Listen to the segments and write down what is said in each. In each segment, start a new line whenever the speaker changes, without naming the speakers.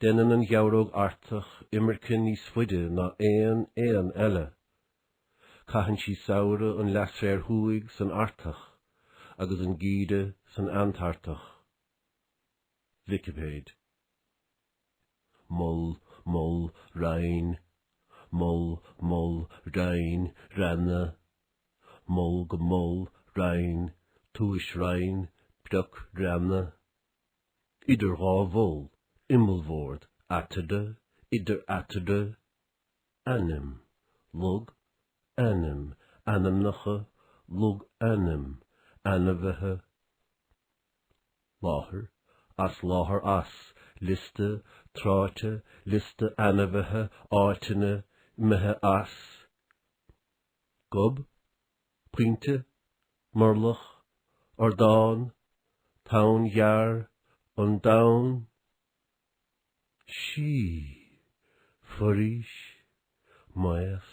Déanann an Gheabhróg Artach imirce níos faide ná aon éan eile. Caitheann sí samhradh an leathsféir thuaidh san Artach agus an geimhreadh san Antartach. Vicipéid. mol mol rinn mol mol rinn reanna mol go mol rinn tuaisrinn prioc reanna. idir dhá mhol, imeallbhord, eatarthu, idir eatarthu, ainm, log, ainm, ainmneacha, logainm, ainmhithe, láthair, as láthair as, liosta, tráite, liosta ainmhithe, áiteanna, imithe as, gob, pointe, murlach, ardán, tonn ghearr, an domhan, sí, foraois, maos,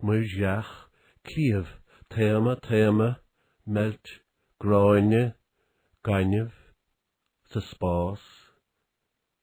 muirbheach, cliabh, taomadh, taomadh, meilt, gráinne, gaineamh, sa spás,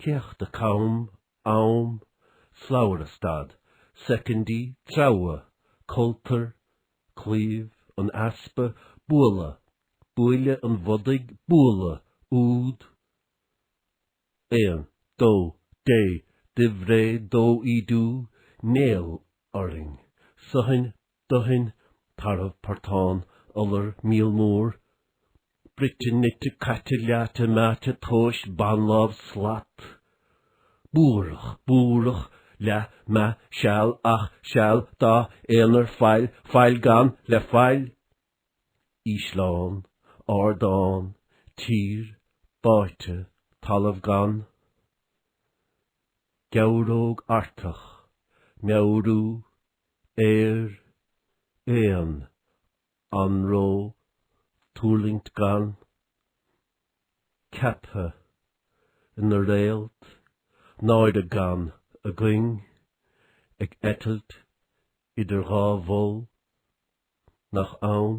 céachta cam, am, slabhra stad, soicindí, treabhadh, coltar, claíomh, an easpa, bualadh, buaile an bhodaigh, bualadh, úd, aon, dó, dé, duibhré, dó ídiú, néal, orainn, suthain, duthain, tarbh, portán, iolar, míol mór, bruite, nite, caite, leáite, meáite, tomhais, banlámh, slat, buarach, búrach, leath, meath, seal, ach, seal, dath, aonar, faill, faill gann, le faill, ísleán, ardán, tír, báite, talamh gann, geabhróg Artach, meabhrú, ar éan anró tuirlingt gann, ceaptha ina réalt náire gann a gcuing ag eitilt idir dhá mhol nach ann.